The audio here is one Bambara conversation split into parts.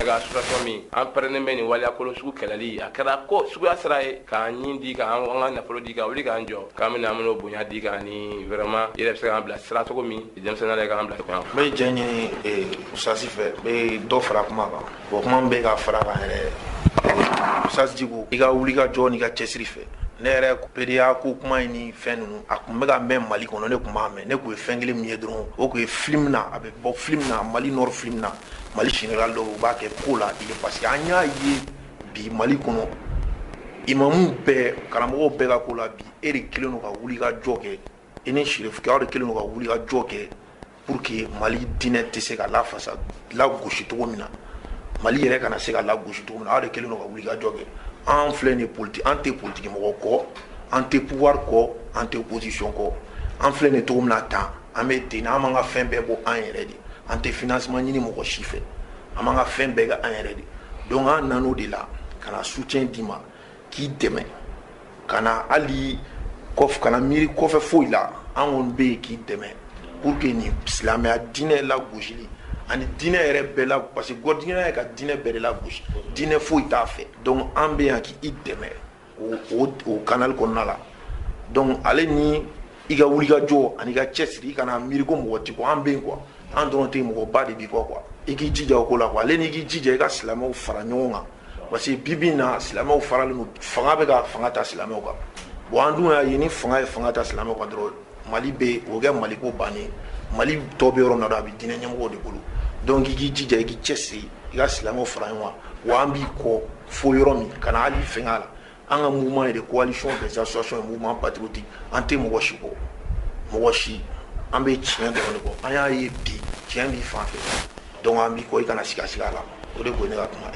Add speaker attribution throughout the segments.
Speaker 1: daga association min an pɛrɛnnen bɛ nin waleya kolon sugu kɛlɛli a kɛra ko suguya sira ye k'an ni di k'an ka nafolo di ka wuli k'an jɔ k'an bɛna an bɛn'o bonya d'i kan ni vraiment i yɛrɛ bɛ se k'an bila sira cogo min denmisɛnnin yɛrɛ k'an bila cogoya n bɛ jɛn
Speaker 2: ɲini eh, usasi fɛ n bɛ dɔ fara kuma kan bon kuma min bɛ ka fara kan yɛrɛ eh, usasi diko i ka wuli ka jɔ n'i ka cɛsiri fɛ ne yɛrɛ pedeya ko kuma in ni fɛn ninnu a tun bɛ ka mɛn mali kɔnɔ ne tun b'a mɛn ne tun ye fɛn kelen min ye dɔrɔn o tun ye film na a bɛ bɔ film na mali nord film na mali général dɔw u b'a kɛ ko la i ye parce que an y'a ye bi mali kɔnɔ imamu bɛɛ karamɔgɔw bɛɛ ka ko la bi e de kelen don ka wuli ka jɔ kɛ e ni serifukɛ aw de kelen don ka wuli ka jɔ kɛ pour que mali diinɛ tɛ se ka lafasa lagosi cogo min na mali yɛrɛ kana se ka lagosi cogo min na aw de kelen don ka wuli ka jɔ kɛ an filɛ nin politi an tɛ politiki mɔgɔ kɔ an tɛ pouvoir kɔ an tɛ opposition kɔ an filɛ nin cogo min na tan an bɛ ten an b'an ka fɛn bɛɛ bɔ an yɛrɛ de an tɛ financement ɲini mɔgɔ si fɛ an b'an ka fɛn bɛɛ kɛ an yɛrɛ de donc an nan'o de la ka na soutien d'i ma k'i dɛmɛ kana hali kana miiri kɔfɛ foyi la an kɔni bɛ yen k'i dɛmɛ pour que nin silamɛya diinɛ lagosili ani diinɛ yɛrɛ bɛɛ la parce que gɔrɔjigɛnya ka diinɛ bɛɛ de lagosi diinɛ foyi t'a fɛ donc an bɛ yan k'i dɛmɛ o kanali kɔnɔna la donc ale ni i ka wulikajɔ ani i ka cɛsiri i kana miiri ko mɔgɔ t'i kɔ an bɛ yen quoi an dɔrɔn tɛ mɔgɔba de b'i kɔ quoi i k'i jija o ko la quoi ale n'i k'i jija i ka silamɛw fara ɲɔgɔn kan parce que bi bi in na silamɛw faralen don fanga bɛ ka fanga ta silamɛw kan bon an dun y'a ye ni fanga ye fanga ta silamɛw kan dɔrɔn mali bɛ o kɛ mali ko bannen mali tɔ bɛ yɔrɔ min na a bɛ diinɛ ɲɛmɔgɔ de bolo donc i k'i jija i k'i cɛ siri i ka silamɛw fara ɲɔgɔn kan wa an b'i kɔ fo yɔrɔ min kana hali fɛnkɛ la an ka mouvement ye de coalition des associations et mouvement patriotique an tɛ mɔgɔ si kɔ mɔgɔ si an bɛ tiɲɛ dɔrɔn de kɔ an y'a ye bi tiɲɛ b'i fan fɛ donc an b'i kɔ i kana siga siga la o de ko ne ka kuma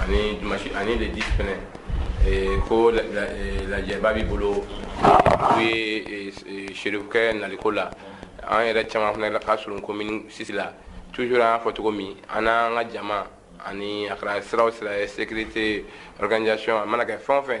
Speaker 2: ani dimanche ani le
Speaker 1: 10 fɛnɛ eh, ko eh, lajɛba b'i bolo o ye eh, serifukɛ naliko la an yɛrɛ caman fɛnɛ la ka surun commune 6 la toujours an y'a fɔ cogo min an n'an ka jama ani a kɛra sira o sira ye sécurité organisation a mana kɛ fɛn o fɛn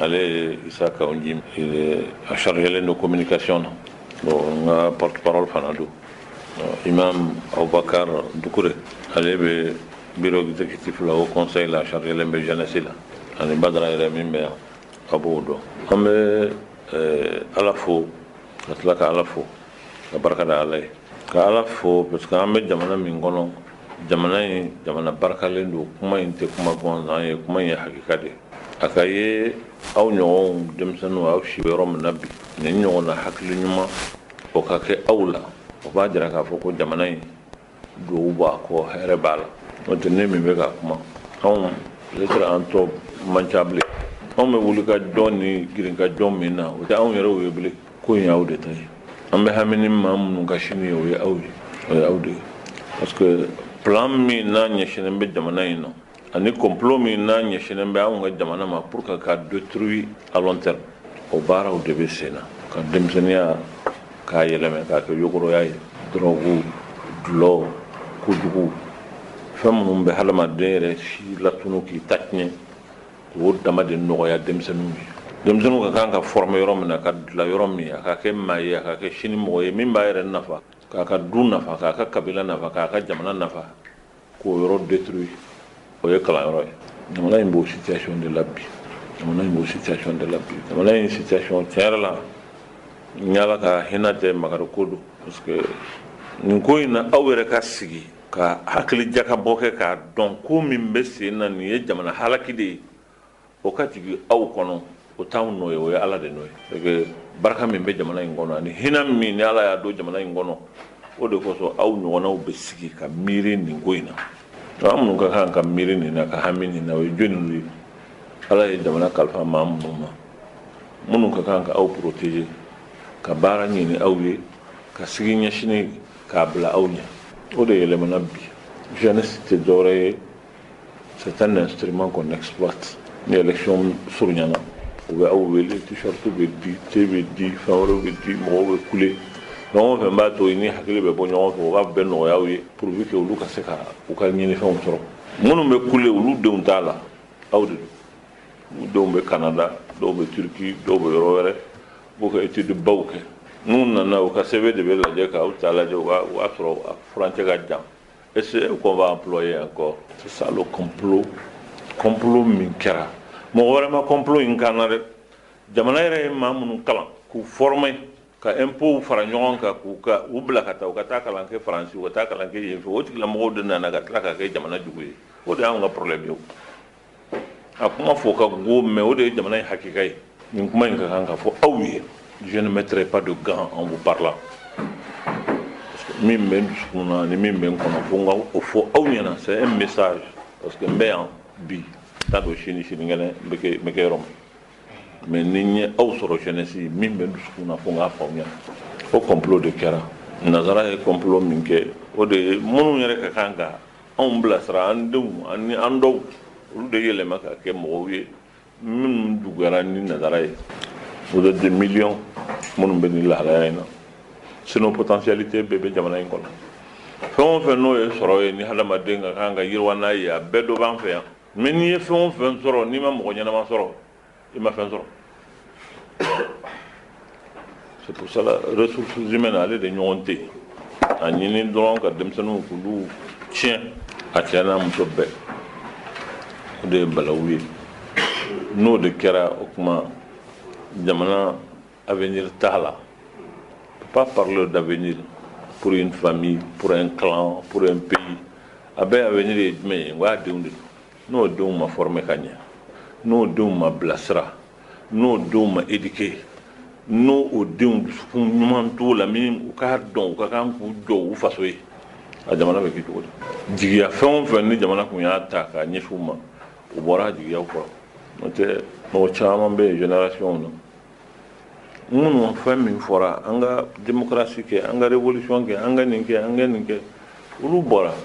Speaker 3: Ale ye isa ka ji a sariyaɛlɛlen don ko mini kasiyɔn na n ka panɔrɔ fana don i ma awbakan duguɛrɛ ale bɛ bi bɛti fila o kɔnsa la sariyalɛlen bɛ jɛnɛsi la ani ba taara yɛrɛ min bɛ yan ka bɔ'o dɔn an bɛ ala fo ka tila ka ala fo ka barika ala ye ka ala fo parce que an bɛ jamana min kɔnɔ jamana in jamana barikalen don kuma in tɛ kuma gansan ye kuma in ye hakika de ye a ka ye aw ɲɔgɔnw denmisɛnninw aw si bɛ yɔrɔ min na bi nin ɲɔgɔn na hakili ɲuman o ka kɛ aw la o b'a jira k'a fɔ ko jamana in duwawu b'a kɔ hɛrɛ b'a la n'o tɛ ne min bɛ ka kuma anw peut-être an tɔ man ca bilen anw bɛ wuli ka jɔ ni girin ka jɔ min na o tɛ anw yɛrɛw ye bilen ko in y'aw de ta ye an bɛ hami ni maa minnu ka sini ye o ye aw ye o ye aw de ye parce que plan min n'a ɲɛsinnen bɛ jamana in na ani complot min n'a ɲɛsinnen bɛ anw ka jamana ma pour que ka détruire à long terme o baaraw de bɛ sen na ka denmisɛnninya k'a yɛlɛmɛ k'a kɛ yogoroya ye drogue dulɔ kojugu fɛn minnu bɛ hadamaden yɛrɛ si latunun k'i ta tiɲɛ O dama de nɔgɔya denmisɛnninw ye denmisɛnninw ka kan ka former yɔrɔ min na ka dilan yɔrɔ min a ka kɛ maa ye a ka kɛ sini mɔgɔ ye min b'a yɛrɛ nafa k'a ka du nafa k'a ka kabila nafa k'a ka jamana nafa k'o yɔrɔ détruire o ye kalanyɔrɔ ye jamana in b'o situation de la bi jamana in b'o situation de la bi jamana in situation tiɲɛ la ni ala ka hinɛ tɛ makari ko don parce que nin ko in na aw yɛrɛ ka sigi Ka hakili jakabɔ kɛ k'a dɔn ko min bɛ sen na nin ye jamana halaki de ye o ka jigin aw kɔnɔ o t'anw nɔ ye o ye ala de nɔ ye parce que barika min bɛ jamana in kɔnɔ ani hinɛ min ni ala y'a don jamana in kɔnɔ o de kosɔn aw ɲɔgɔnnaw bɛ sigi ka miiri nin ko in na an minnu ka kan ka miiri nin na ka hami nin na o ye jɔnniw ye ala ye jamana kalifa maa minnu ma minnu ka kan ka aw protéger ka baara ɲini aw ye ka sigi ɲɛsin k'a bila aw ɲɛ o de yɛlɛmana bi jeunesse tɛ dɔwɛrɛ ye c'est un instrument qu'on exploite ni élection surunyana u bɛ aw wele t-shirt bɛ di te bɛ di fɛn wɛrɛw bɛ di mɔgɔw bɛ kule ɲɔgɔn fɛ b'a to ni hakili bɛ bɔ ɲɔgɔn fɛ o ka bɛn nɔgɔya aw ye pourvu que olu ka se ka u ka ɲinifɛnw sɔrɔ minnu bɛ kule olu denw t'a la aw de don u denw bɛ Canada dɔw bɛ Turquie dɔw bɛ yɔrɔ wɛrɛ B'u ka étude baw kɛ n'u nana u ka sɛbɛn de bɛ lajɛ ka aw ta lajɛ o y'a sɔrɔ a furancɛ ka jan est-ce qu'on va employer encore c'est ça le complot complot min kɛra mɔgɔ wɛrɛ ma complot in k'an na dɛ jamana yɛrɛ ye maa minnu kalan k'u former ka impôts fara ɲɔgɔn kan k'u bila ka taa u ka taa kalan kɛ France u ka taa kalan kɛ yen fɛ o tigilamɔgɔw de nana ka tila ka kɛ jamana jugu ye o de y'anw ka problème ye o. A kuma fɔ ka go mais o de ye jamana in hakika ye nin kuma in ka kan ka fɔ aw ye je ne mettrai pas de gants en vous parlant parce que min bɛ n dusukun na ni min bɛ n kɔnɔ fo n k'o fɔ aw ɲɛna c'est un message parce que n bɛ yan bi t'a dɔn sini sinikɛnɛ n bɛ kɛ yɔrɔ min mais ni n ye aw sɔrɔ jeunesse min bɛ n dusukun na fo n k'a fɔ aw ɲɛna o complot de kɛra nanzara ye complot min kɛ o de ye minnu yɛrɛ ka kan ka Anw bilasira an denw ani an dɔw olu de yɛlɛma ka kɛ mɔgɔw ye minnu juguyara ni nanzara ye vous êtes des millions minnu bɛ nin lahalaya in na sinon potentialité bɛɛ bɛ jamana in kɔnɔ fɛn o fɛn n'o ye sɔrɔ ye ni hadamaden ka kan ka yiriwa n'a ye a bɛɛ dɔ b'an fɛ yan mais n'i ye fɛn o fɛn sɔrɔ n'i ma mɔgɔ ɲɛnama sɔrɔ i ma fɛn sɔrɔ c'est pour ça là ressources humaines ale de ɲɔgɔn tɛ yen a ɲini dɔrɔn ka denmisɛnninw k'olu tiɲɛ a cɛ n'a muso bɛɛ o de ye balawu ye n'o de kɛra o tuma jamana avenir t'a la on peut pas parler d'avenir pour une famille pour un clan pour un pays a bɛɛ avenir ye jumɛn ye n ko a denw de don N'o denw ma former ka ɲɛ, n'o denw ma bilasira, n'o denw ma éduquer, n'o o denw dusukun ɲuman t'u la min u k'a dɔn u ka kan k'u jɔ u faso ye, a jamana bɛ kɛ cogo di? Jigiya fɛn o fɛn ni jamana tun y'a ta k'a ɲɛsin u ma, u bɔra a jigiyaw kɔrɔ. N'o tɛ, mɔgɔ caman bɛ yen génération na, minnu fɛn min fɔra, an ka démocratie kɛ, an ka révolution kɛ, an ka nin kɛ, an ka nin kɛ, olu bɛ dans la misère.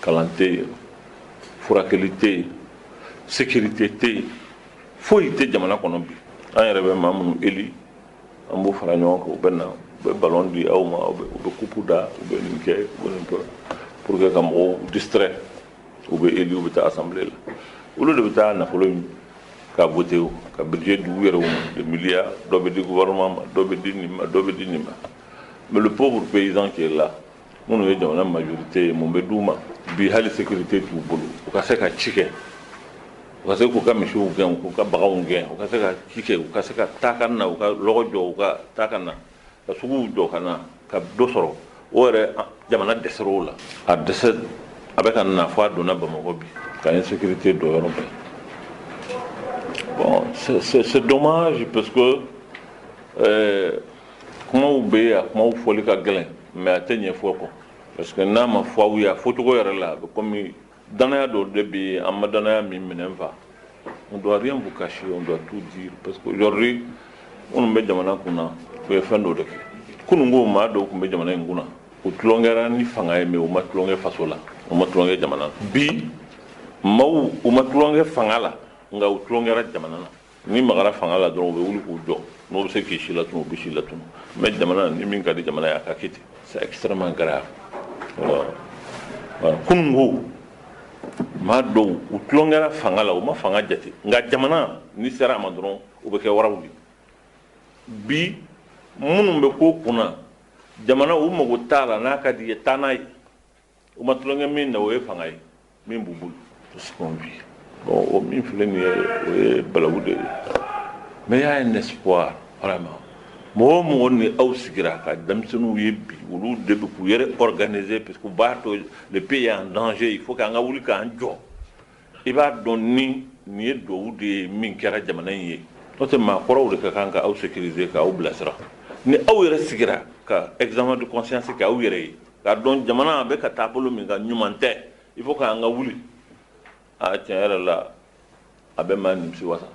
Speaker 3: kalan tɛ yen furakɛli tɛ yen sécurité tɛ yen foyi tɛ jamana kɔnɔ bi an yɛrɛ bɛ maa minnu élire an b'u fara ɲɔgɔn kan u bɛ na u bɛ ballon di aw ma u bɛ coupe da u bɛ nin kɛ u bɛ nin kɛ pour que ka mɔgɔw distrait u bɛ élire u bɛ taa assemblée la olu de bɛ taa nafolo in ka voté u ka budget di u yɛrɛw ma des milliards dɔ bɛ di gouvernement ma dɔ bɛ di nin ma dɔ bɛ di nin ma mais le pauvre paysan qui est là minnu ye jamana majorité ye mun bɛ d'u ma bi hali sécurité t'u bolo u ka se ka ci kɛ u ka se k'u ka misiw gɛn k'u ka baganw gɛn u ka se ka ci kɛ u ka se ka taa ka na u ka lɔgɔ jɔ u ka taa ka na ka sugu jɔ ka na ka dɔ sɔrɔ o yɛrɛ jamana dɛsɛr'o la a dɛsɛ a bɛ ka na fɔ a donna bamakɔ bi ka insécurité don yɔrɔ bɛɛ bon c'est dommage parce que kumaw bɛ yen a kumaw fɔli ka gɛlɛn Mais a tɛ ɲɛ fɔ kɔ parce que n'a ma fɔ aw ye a fɔcogo yɛrɛ la a bɛ kɔmi danaya dɔ de bɛ yen an ma danaya min minɛ n fa on doit rien vous cacher on doit tout dire parce que aujourd'hui minnu bɛ jamana kunna u ye fɛn dɔ de kɛ kununko maa dɔw tun bɛ jamana in kunna u tulonkɛra ni fanga ye mais u ma tulonkɛ faso la u ma tulonkɛ jamana na bi maaw u ma tulonkɛ fanga la nka u tulonkɛra jamana na Ni magara fanga la dɔrɔn u bɛ wuli k'u jɔ n'o bɛ se k'i si latunu u bɛ si latunu mais jamana ni min ka di jamana ye a ka kɛ ten c'est extrêmement grave kununko maa dɔw u tulonkɛra fanga la u ma fanga jate nka jamana ni sera a ma dɔrɔn u bɛ kɛ waraw ye bi minnu bɛ ko kunna jamana u mago t'a la n'a ka di i ye taa n'a ye U ma tulonkɛ min na o ye fanga ye min b'u bolo o min filɛ nin ye o ye balawu de ye mais il y a un espoir vraiment mɔgɔ o mɔgɔ ni aw sigira ka denmisɛnninw ye bi olu de bɛ k'u yɛrɛ organiser parce que u b'a dɔn le pays est en danger il faut k'an ka wuli k'an jɔ i b'a dɔn ni nin ye dugawu de ye min kɛra jamana in ye n'o tɛ maakɔrɔw de ka kan ka aw sécuriser k'aw bilasira ni aw yɛrɛ sigira ka examen de conscience k'aw yɛrɛ ye K'a dɔn jamana a bɛ ka taabolo min kan ɲuman tɛ il faut k'an ka wuli aa tiɲɛ yɛrɛ la a bɛ maa nimisi wasa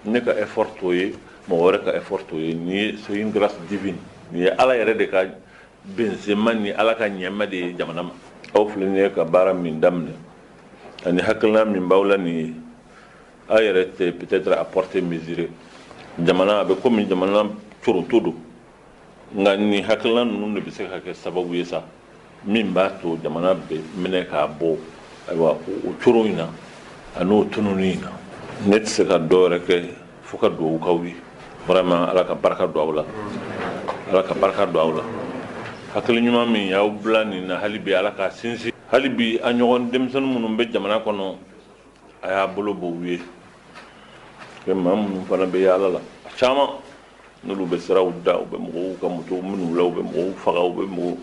Speaker 3: ne ka effort t'o ye mɔgɔ wɛrɛ ka effort t'o ye nin ye c'est une grâce divine nin ye Ala yɛrɛ de ka benzema ni Ala ka nɛɛma de ye jamana ma aw filɛ nin ye ka baara min daminɛ ani hakilina min b'aw la nin ye aw yɛrɛ tɛ peut-être a portée mesurer jamana a bɛ komi jamana corontɔ don Nka nin hakilina ninnu de bɛ se ka kɛ sababu ye sa min b'a to jamana bɛ minɛ k'a bɔ ayiwa o coron in na a n'o tunun in na ne tɛ se ka dɔ wɛrɛ kɛ fo ka dugawu k'aw ye vraiment ala ka barika don aw la ala ka barika don aw la hakili ɲuman min y'aw bila nin na hali bi ala k'a sinsin hali bi a ɲɔgɔn denmisɛnnin minnu bɛ jamana kɔnɔ a y'a bolo bɔ u ye maa minnu fana bɛ yaala la a caman N'olu bɛ siraw da u bɛ mɔgɔw ka moto minɛ u la u bɛ mɔgɔw faga u bɛ mɔgɔw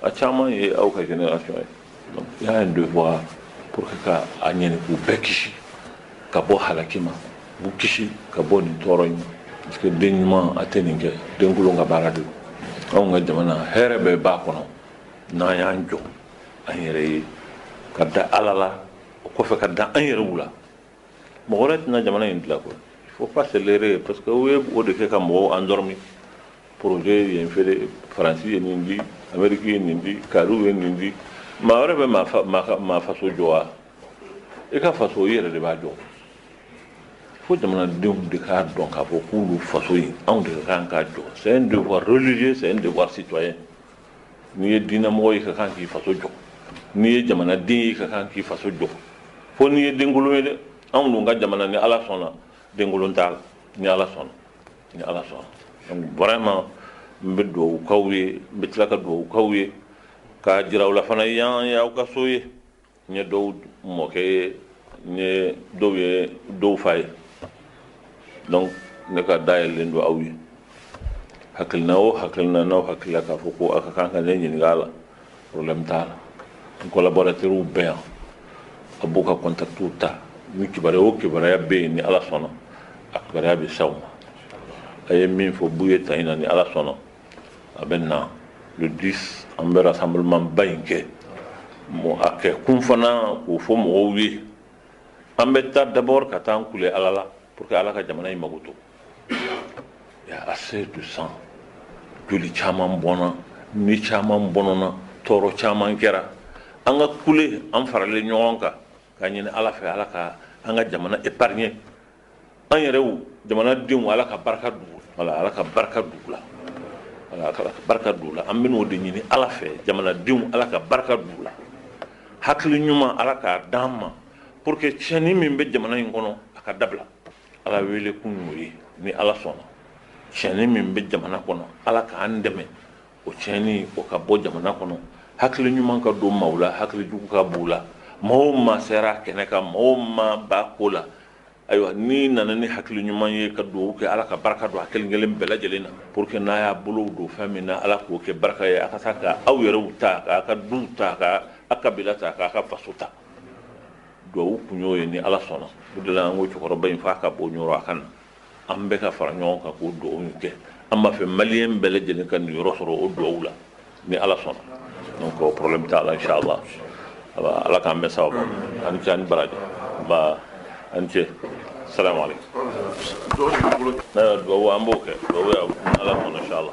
Speaker 3: a caman ye aw ka génération ye donc il y a un devoir pour que ka a ɲini k'u bɛɛ kisi ka bɔ halaki ma k'u kisi ka bɔ nin tɔɔrɔ in ma parce que den ɲuman a tɛ nin kɛ denkolon ka baara de don anw ka jamana hɛrɛ bɛɛ b'a kɔnɔ n'an y'an jɔ an yɛrɛ ye ka da Ala la o kɔfɛ ka da an yɛrɛw la mɔgɔ wɛrɛ tɛna jamana in dilan koyi faut pas se leurrer parce que u ye o de kɛ ka mɔgɔw endormi poroze ye nin feere faransi ye nin di anmeriki ye nin di kariw ye nin di maa wɛrɛ bɛ maa faso jɔ wa i ka faso i yɛrɛ de b'a jɔ fo jamanadenw de k'a dɔn k'a fɔ k'olu faso in anw de ka kan k'a jɔ c'est un devoir religieux c'est un devoir citoyen n'i ye diinɛmɔgɔ ye i ka kan k'i faso jɔ n'i ye jamanaden ye i ka kan k'i faso jɔ fo n'i ye denkolon ye dɛ anw dun ka jamana ni ala sɔnna denkolon t'a la ni ala sɔnna ni ala sɔnna donc vraiment n bɛ dugawu k'aw ye n bɛ tila ka dugawu k'aw ye k'a jira aw la fana yan y'aw ka so ye N ye dɔw mɔkɛ ye, n ye dɔw ye dɔw fa ye. Donc ne ka da yɛlɛlen don aw ye. Hakilina o hakilina n'aw hakili la k'a fɔ ko a ka kan ka ne ɲininka a la, problème t'a la. N collaborateurs bɛ yan, a b'u ka contact ta, ni kibaruya o kibaruya bɛ yen, ni Ala sɔnna, a kibaruya bɛ s'aw ma. A ye min fɔ feburuye tan in na, ni Ala sɔnna. a bɛnna le 10 an bɛ rassemblement ba in kɛ a kɛ kun fana k'o fɔ mɔgɔw ye an bɛ taa d'abord ka taa an kule Ala la pour que Ala ka jamana in makoto il y a assez de sang joli caman bɔnna ni caman bɔnɔna tɔɔrɔ caman kɛra an ka kule an faralen ɲɔgɔn kan k'a ɲini Ala fɛ Ala ka an ka jamana épargner An yɛrɛ jamana denw ala ka barika ala ka barika don u la ka barika don u la an bɛn'o de ɲini ala fɛ jamanadenw ala ka barika don u la hakili ɲuman ala k'a d'an ma pour que tiɲɛni min bɛ jamana in kɔnɔ a ka dabila ala wele kun y'o ye ni ala sɔnna tiɲɛni min bɛ jamana kɔnɔ ala k'an dɛmɛ o tiɲɛni o ka bɔ jamana kɔnɔ hakili ɲuman ka don maaw la hakili jugu ka b'u la maa o maa sera kɛnɛ kan maa o maa b'a ko la ayiwa n'i nana ni hakili ɲuman ye ka dugawu kɛ ala ka barika don a kelen kelen bɛɛ lajɛlen na pour que n'a y'a bolo don fɛn min na ala k'o kɛ barika ye a ka se ka aw yɛrɛw ta k'a ka duw ta k'a ka kabila ta k'a ka faso ta dugawu kun y'o ye ni ala sɔnna o de la an ko cɛkɔrɔba in f'a ka bɔ ɲɔrɔ a ka na An bɛɛ ka fara ɲɔgɔn kan k'o dugawu in kɛ an b'a fɛ maliyɛn bɛɛ lajɛlen ka niyɔrɔ sɔrɔ o dugawu la ni ala sɔnna donc o problème t'a la inchallah ala k'an bɛɛ sara baba a ni ce a ni baraji ba a ni ce salamu alaikum dugawu an b'o kɛ ala